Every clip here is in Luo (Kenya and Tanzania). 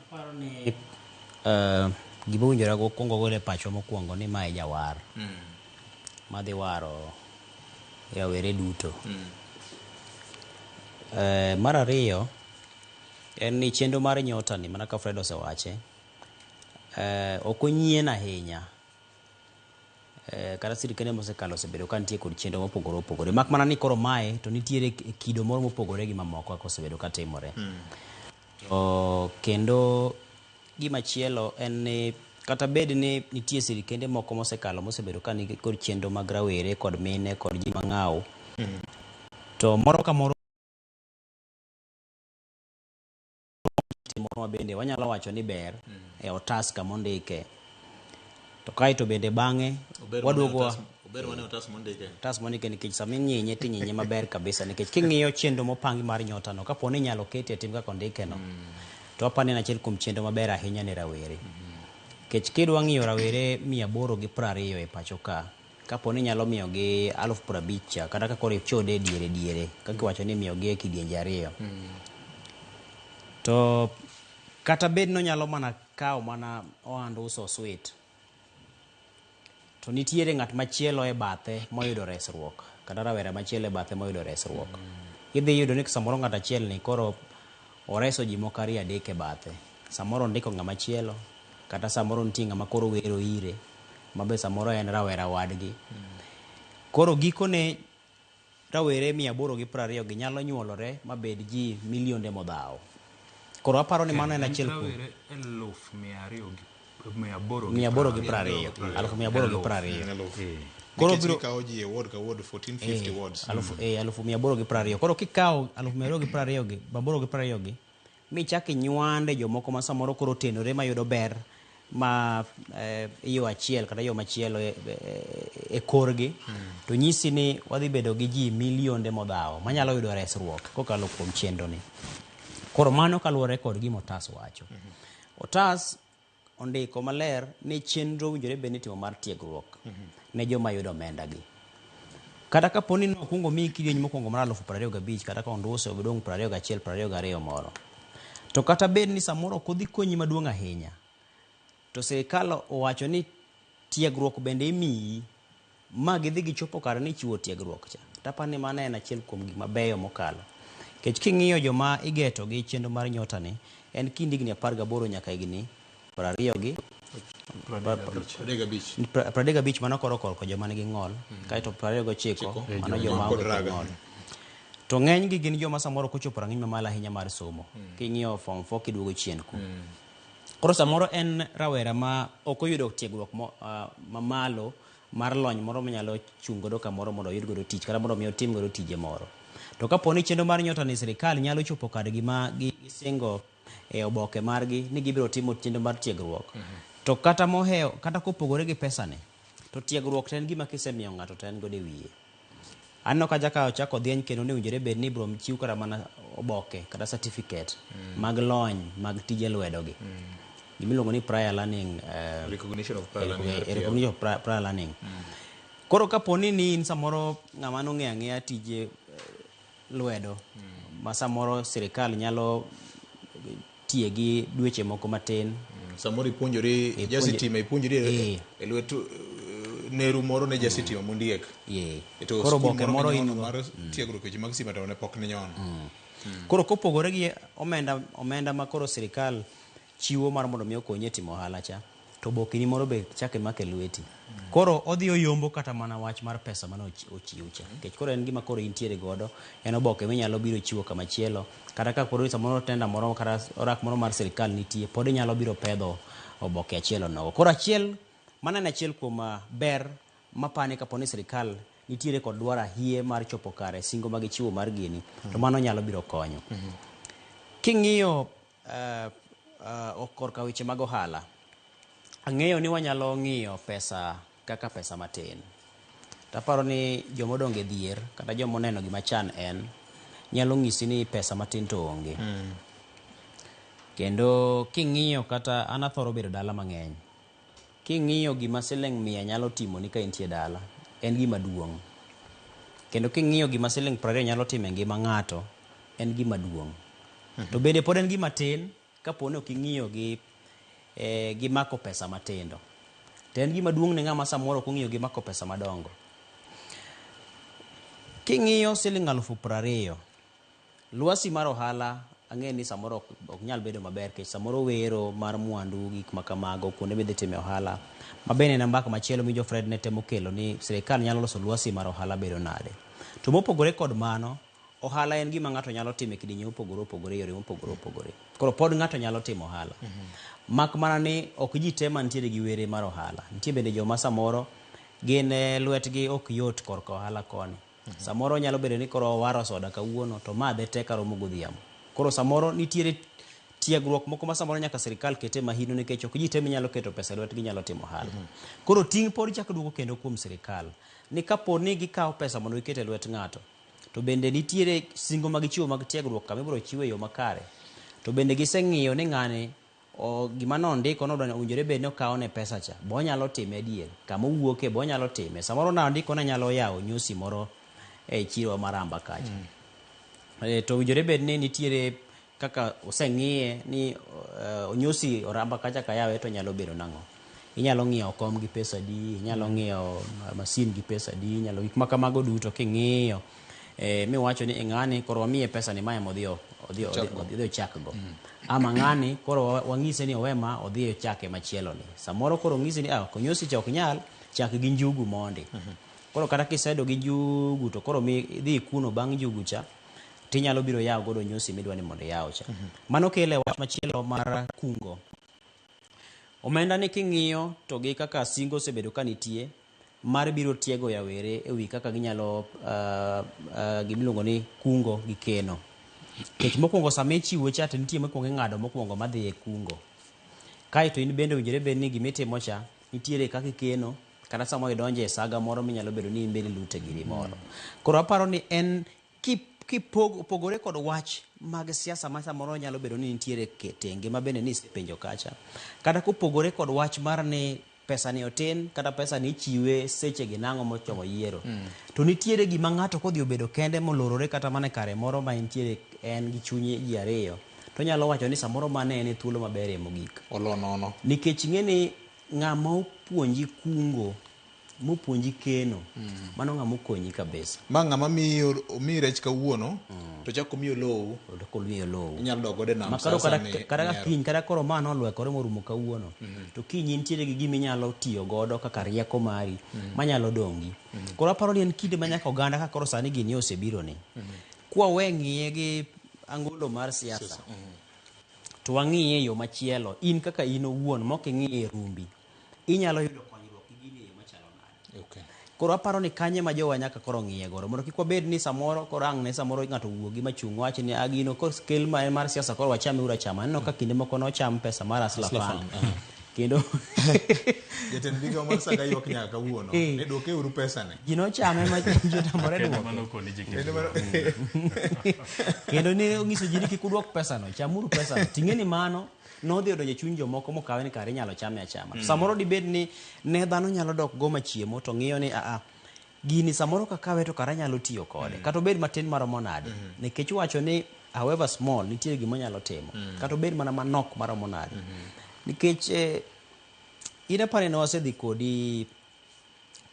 Aparo ni eh, gima owinjore go kwongo gole e pachwa mokwongo ni ma e jawar madhi waro rawere duto. Eh, mar ariyo en ni chenro mar nyota ni mana ka Fred osewache eh, ok onyien ahinya Eh, kata sirkende mosekalo osebedo ka nitie kod chenro mopogore opogore mak mana ni koro mae to nitiere k- kido moro mopogore gi mamoko kaka osebedo ka timore to kendo gimachielo en ni kata bed ni nitie sirkende moko mosekalo mosebedo ka nigi kod chenro mag rawere kod mine kod ji mang'aw to moro ka moro timonwa bende wanyalo wacho ni ber e otas kama ondike to kaeto bende bang'e waduogo wa- ober wane otas mondike otas mondike nikech sama inyinye to inyinye maber kabisa nikech king'iyo chenro mopangi mar nyotano kapo ni inyalo keti e tim kaka ondikeno to apani en achiel kuom chenro maber ahinya ne rawere nikech kidwa ng'iyo rawere mia aboro gi piero ariyo e pacho ka Kapo ni inyalo miyogi aluf piero abich cha, kata ka koro ichode e diere diere, kaka iwacho ni imiyogi e kidienje ariyo, to kata bed ni onyalo mana kawo mana ohand uso sweet, to nitiere ng'at machielo e bathe moyudo resruok, kata rawera machielo e bathe moyudo resruok. Idhi yudo ni samoro ng'at achielni koro. Oreso ji moko ariyo adek e bathe. Samoro ondiko ng'ama chielo, kata samoro nitie ng'ama koro wero ire, mabe samoro en rawera wadgi. Koro gikone rawere mia aboro gi piero ariyo gi nyalo nyuolore mabed ji milionde modhaw. Koro aparo ni mano en achiel kuom. Rawere eluf mia ariyo gi. mia aboro gi mia aboro gi prariyo. prariyo Prariyo. alufu mia aboro gi Alufu. prariyo Alufu. Koro Nikech biro- ikawo ji e ward ka ward 1450 Eh, wards. alufu eh, alufu mia aboro gi prariyo koro kikawo alufu mia aboro gi prariyo gi aboro gi prariyo gi michak inywande jomoko ma samoro koro otenore mayudo ber ma eh, yo achiel kata yo machielo e, e- e korgi to nyisi ni wadhi bedo gi ji milionde modhawo manyalo yudo resruok kokalo kuom chenroni koro mano kaluwore kod gima otas wacho Otas ondiko maler ni chenro owinjore bed ni itimo mar tiegruok ne joma yudo omendagi. Kata kapo ni nokwongo miyi kidieny mokwongo mar alufu piero ariyo gabich kata ka onduse odong' piero ariyo gachiel, piero ariyo gariyo moro. To kata bed ni samoro ok odhi konyi maduong' ahinya, to sirikal owacho ni tiegruok bende imiyi. ma gidhi gichopo kare ni chiwo tiegruok cha. To aparo ni mano en achiel kuom gik mabeyo mokalo. Nikech king'iyo joma igeto gi chenro mar Nyota ni, en kind higni apar gaboro nyaka higni prariyo gi Pradek gabich. pra- pradek gabich mano koro korko joma nigi ng'ol kaeto prariyo gochiko Chiko. mano Eh, joma joma onge kod kod raga. ng'ol to ng'enygi gin joma samoro kochopo rang'iny mamalo ahinya mar somo king'iyo form 4 kiduogo chien ku Koro samoro en rawera ma ok oyudo tiegruok mo- ah, mamalo mar lony moro manyalo chung' godo kamoro mondo oyud godo tich kata mondo mi otim godo tije moro. To kapo ni chenro mar nyota ni sirkal nyalo chopo kar gima gi- gisingo e oboke margi ni gibiro timo chenro mar tiegruok. To kata mohewo, kata kopogore gi pesani, to tiegruok to en gima kisemiyo ng'ato to en godo e wiye. Aneno kacha ka ochako dhieny kendo ne owinjore bed ni ibiro chiw kata mana oboke kata certificate mag lony mag tije lwedogi. Gima iluongo ni prior learning eh, Recognition of prior learning, eh, RPL. recognition of prior- prior learning. Koro kapo ni ni in samoro ng'ama nong'eyo ang'eya tije eh, lwedo ma samoro sirikal nyalo tiye gi dweche moko matin samoro ipuonjori Ipuonje- jasitima ipuonjori e- Eh. e lwet uh, neru moro ne jasitima mondiek ye to koro skul boke moro moro minyono in mar tiegruok weche mag stima to ne pok ninyono koro kopogore gi omenda omenda ma koro sirikal chiwo mar mondo mi okonyi e timo ohala cha To obokeni moro be chak imak e lweti. Koro odhi oyombo kata mana wach mar pesa mane ochi- ochiw cha. Nikech koro en gima koro intiere godo, en oboke minyalo biro chiwo kama chielo. Kata ka koro samoro tenda moro kata orak moro mar sirkal nitie, pod inyalo biro pedho oboke achiel onogo. Koro achiel, mano en achiel kuom ah, ber mapani kapo ni sirkal nitiere kod dwaro ahie mar chopo kare singo ma gichiwo mar gini, to mano nyalo biro konyo. King'iyo Korka weche mag ohala, ang'eyo ni wanyalo ng'iyo pesa kaka pesa matin. To aparo ni joma odongo e dhier kata joma oneno gima chan en nyalo nyisi ni pesa matin to onge. Kendo king'iyo kata an athoro bedo dala mang'eny. King'iyo gima siling' mia nyalo timoni ka intie dala, en gima duong'. Kendo king'iyo gima siling' prariyo nyalo timo e ngima ng'ato, en gima duong'. To bende pod en gima tin kapo ni ok ing'iyo gi gi mako pesa matindo. To en gima duong' ne ng'ama samoro ok ong'iyo gi mako pesa madongo. King'iyo siling' alufu prariyo. Lwasi mar ohala ang'e ni samoro ok nyal bedo maber kech samoro wero mar mwandu gik makamago kuonde midhi time ohala. Ma bende en ambaka machielo mijo Fred ne temo kelo ni sirikal nyalo loso lwasi mar ohala bedo nade. To mopogore kod mano, ohala en gima ng'ato nyalo timo e kidienje mopogore opogore e yore mopogore opogore. Koro pod ng'ato nyalo timo ohala. Mak mana ni ok ji te mantiere gi were mar ohala. Nitie bende joma samoro gin lwetgi ok yot korka ohala koni. Samoro nyalo bedo ni koro owaro soda kawuono to omadhe te karomo godhiambo. Koro samoro nitiere tiegruok moko ma samoro nyaka sirkal ket e mahino nikech ok ji te minyalo keto pesa e lwetgi nyalo timo ohala. Koro ting' pod chako duogo kendo kuom sirkal ni kapo ni gikawo pesa mondo giket e lwet ng'ato to bende nitiere singo ma gichiwo mag tiegruok kama ibiro chiwe e yo makare to bende giseng'iyo ni ng'ani gima nondiko nowinjore bed ni okawone pesa cha, be onyalo time adier? Kama owuoke be onyalo time? Samoro nandiko ni anyalo yawo nyosi moro e chiro ma Ramba kacha. E, to owinjore bed ni nitiere kaka oseng'iye ni eh, onyosi Ramba kacha kayawe to nyalo bedo nang'o. Inyalo ng'iewo kom gi pesa adi, inyalo ng'iewo masin gi pesa adi, inyalo gik makamago duto king'iyo eh, miwacho ni ng'ani koro wamiye pesa ni mae modhi o- odhi odhi- Ochakgo. odhi ochakgo. Ama ng'ani koro wa- wang'ise ni owe ma odhi ochake machielo ni. Samoro koro ong'isi ni ah konyosi cha ok nyal chak gi njugu mondi. Koro kata kisedo gi njugu to koro mi idhi ikuno bang' njugu cha tinyalo biro yawo godo nyosi midwa ni mondo iyaw cha. Mano kele wach machielo mar kungo Omenda ni king'iyo to gi kaka singo osebedo ka nitie mar biro tiego yawere e wi kaka ginyalo gimiluongo ni kungo gi keno. Kech mokwongo sama ichiwo cha to nitie mokwongo ing'ado mokwongo madhi e kungo. Kaeto in bende owinjore bed ni gimitimo cha nitiere kaka ikeno kata sama idonjo e saga moro minyalo bedo ni in bende ilute giri moro. Koro aparo ni en Kipog, opogore kod wach mag siasa ma samoro nyalo bedo ni nitiere ke- tenge ma bende nisepenjo kacha kata kopogore kod wach mar ni pesa ni otin kata pesa ni ichiwe seche gi nang'o mochomo yiero to nitiere gima ng'ato kodhi obedo kende molorore kata mana e kare moro ma entiere en gi chunye ji ariyo to nyalo wacho ni samoro mane en e thuolo maberie mogik olo nono nikech ing'e ni ng'ama opuonji kungo mopuonji keno mano ng'ama okonyi kabisa Ma ng'ama miyi ol- omiyi rech kawuono to chak omiyi olowu. to kolmiyo olowu Inyalo dok godo e nam makaro sasa kata ni kata ka nero. kiny kata koro ma nolwekore morumo kawuono to kiny intiere gi gima inyalo tiyo godo kaka rieko mari manyalo dongi koro aparo ni en kinde ma nyaka oganda ka koro sani gini osebiro ni kwawe ng'iye gi angolo mar siasa to wang'iye e yo machielo in kaka in owuon mok ing'iye e rumbi Inyalo yudo konyruok gi gini e yo machalo nade? Okay. Koro aparo ni kanye ma jowa nyaka koro ng'iye goro mondo kik wabed ni samoro koro ang' ne samoro ng'ato wuogi ma chung' wachi ni agino kos kel ma en mar siasa koro wachame ura chama. Aneno ka kinde moko nocham pesa mar Asla Asla Fund. Fund, aha. Kendo Jatend migawo mar Saga ywak nyaka kawuono. Eh. Ne dwoke uru pesane. ji nochame ma ji otamore Kendo duoko. mano okoni ji Kendo kendo. mano- Kendo ne onyiso ji ni kik udwok pesano, chamuru pesano. Ting'e ni mano nodhi odonjo e chuny jomoko mokawe ni kare inyalo chame achama. Mm. Samoro dibed ni ne dhano nyalo dok go machiemo to ng'iyo ni aa gini samoro kakawe to kare anyalo tiyo kode. Mm. Kata obed matin maromo nade. Mm -hmm. Nikech wacho ni however small nitie gima onyalo timo. Mm. Kata obed mana manok maromo nade. Mm -hmm. Nikech eh, in apani ne wasedhi kodi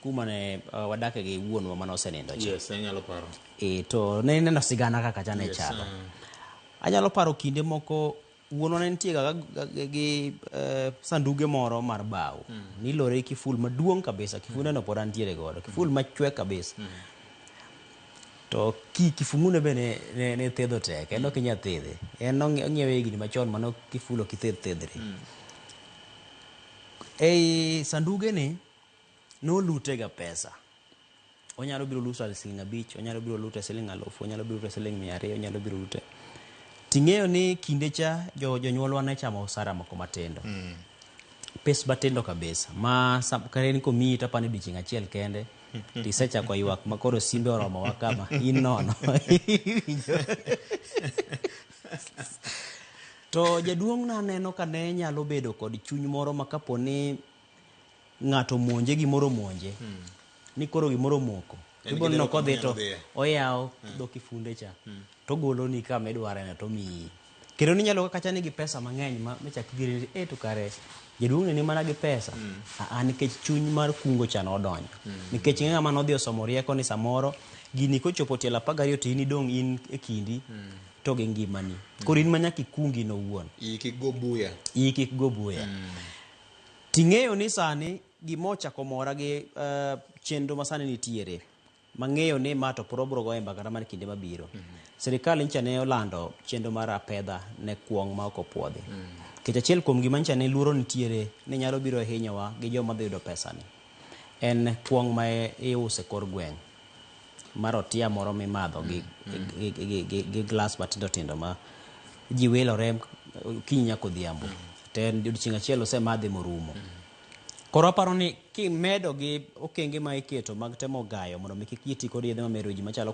kuma ne uh, eh, wadake gi wuonwa mane osenindo cha. Yes, anyalo paro. E, to ne ineno sigana kaka cha ne yes, chalo. Uh. Anyalo paro kinde moko wuonwa ne nitie ga gi eh, sanduge moro mar bao nilore kiful maduong' kabisa kifundeno pod antiere godo kiful machwe kabisa to ki kifungune be ne, ne, ne thedho tek en ok inyal thedhe en ong'e- ong'iewe higni machon mano kiful ok ithedh thedhre ei sandugeni nolutega pesa Onyalo biro luto lal siling' abich, onyalo biro lute siling' alufu, onyalo biro lute siling' mia ariyo, onyalo biro lute. Ting'eyo ni kinde cha jo jonyuolwa ne chamo osara moko matindo. Mm. Pes matindo kabisa. Ma sa- kata in komiyi to apani odiochieng' achiel kende. To isechako ywak ma koro simbe oromo wa kama. In nono. Iwinjo? to jaduong' naneno ka ne nyalo bedo kod chuny moro ma kapo ni ng'ato omonje gimoro omonje hmm. ni koro gimoro omoko ibo neno kodhi to oyawo hmm. dho kifunde cha hmm. to goloni ka midwareno to omiyi kendo ninyalo kaka cha nigi pesa mang'eny ma chak idhire ni e to kare jaduong' ne ni mana gi pesa aa nikech chuny mar kungo cha nodonjo nikech ng'e ng'ama nodhi osomo rieko ni samoro gini kochopo tielo apar gariyo to in idong' in e kindi to gi ngimani koro in ma nyaka ikungi nowuon iyi kik go buya iyi kik go buya Ting'eyo ni sani gima ochako mora gi chenro ma sani nitiere mang'eyo ni ma to pod wabiro goye mbaka kata mana kinde mabiro. Sirkal nyicha ne olando chenro mar apedha ne kuong' ma ok opuodhi. Nikech achiel kuom gima nyicha ne luoro nitiere ni nyalo biro hinyowa gi joma dhi yudo pesani. En kuong' ma iuso e kor gweng' mar otia moro mimadho gi gi glass matindo tindo ma ji wilore okinyi nyaka odhiambo. To en odiochieng' achiel osemadhe morumo. Koro aparo ni kimedo gi okenge ma iketo mag temo gayo mondo mi kik ji ti kod yedhe ma mero ji machalo